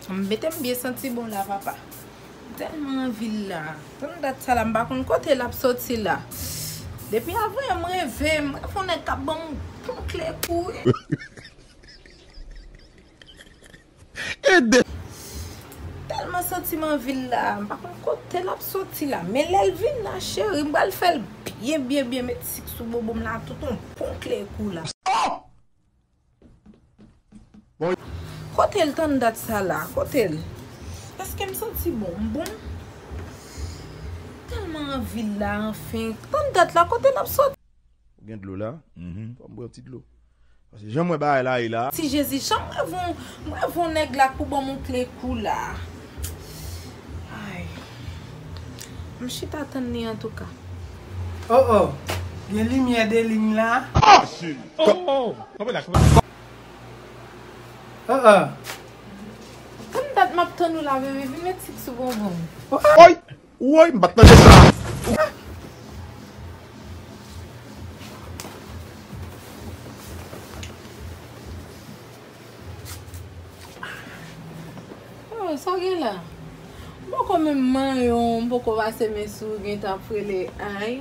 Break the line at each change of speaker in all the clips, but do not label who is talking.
Metem byen santi bon la papa. Telman anvi l la. Tann dat sa la m pa konn kote lap soti la. Depi avan yon m reve m reve yon nèg kap banm bon kle kou wi. Telman santi m anvi l la. M pa konn kote lap soti la. Men lèl vin la cheri m pral fèl byen byen byen met sik sou bobo m la tout yon bon kle kou la. Oh!
Kote l
tann dat sa la kote l. Eske m santi bon m bon. M telman anvi l la anfen. Tann dat la kote l ap soti. Ou gen dlo
la? Fò m bwè yon ti dlo. Paske jan m wè bagay la ye la. Ti Jezi jan m reve w.
M reve w nèg la k pou ban m yon kle kou la. Ay. M chita tann li antouka. Oh
oh gen limyè de ligne la. Oh
oh.
Konbyen dat map tann ou la bebe vin met sik sou bonbon m. Woy
woy m pat mande sa. Ou
Sa w gen la? M poko menm manyen w, m poko pase men sou w gen tan ap rele anh.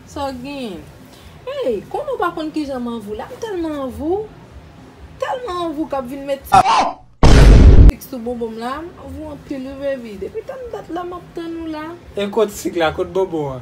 Sa w gen? Ey, konn ou pa konn kijan m anvi w la, m tèlman anvi w, tèlman anvi w k ap vin met ti sik sou bonbon m la, m anvi w anpil wi baby, depi tann dat la m ap tann ou la. E kot sik la,
kot bonbon an?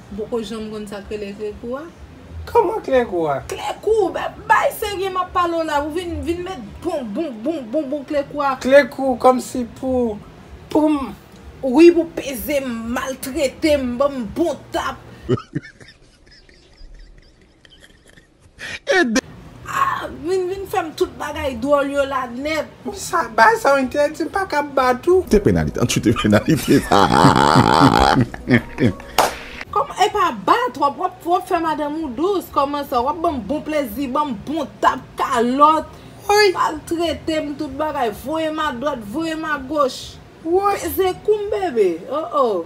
M poko janm konn sak rele kle kou a. Kman kle
kou a? Kle kou!
Bay serye map pale w la. Ou vin vin met bon bon bon bon bon kle kou a. Kle kou komsi
pou pou m.
Wi pou peze m, maltrete m, banm bon tap. Ede. Ah vin vin fèm tout bagay dwòl yo la nèt. Bon sa bay sa ou
entèdi m paka bat ou. Te penalite an tchute
penalite sa aa.
Kòman epa ba trop wap trop fè madanm ou dous kòman sa wap banm bon plezi banm bon tap kalòt Woy.
maltretem
tout bagay voyem a dwat voyem a goch Woy. peze
koum bebe
oh oh.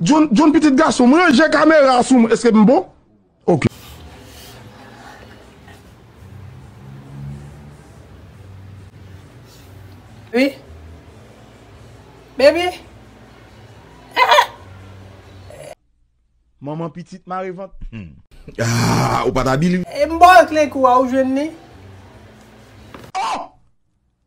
John John pitit gason m ranje kamera a sou mwen eske m bon ok.
Wi Baby eeh.
Manman pitit mare vant humm. Aah ou pat abil. M ba w kle kou
a ou jwenn li. Oh!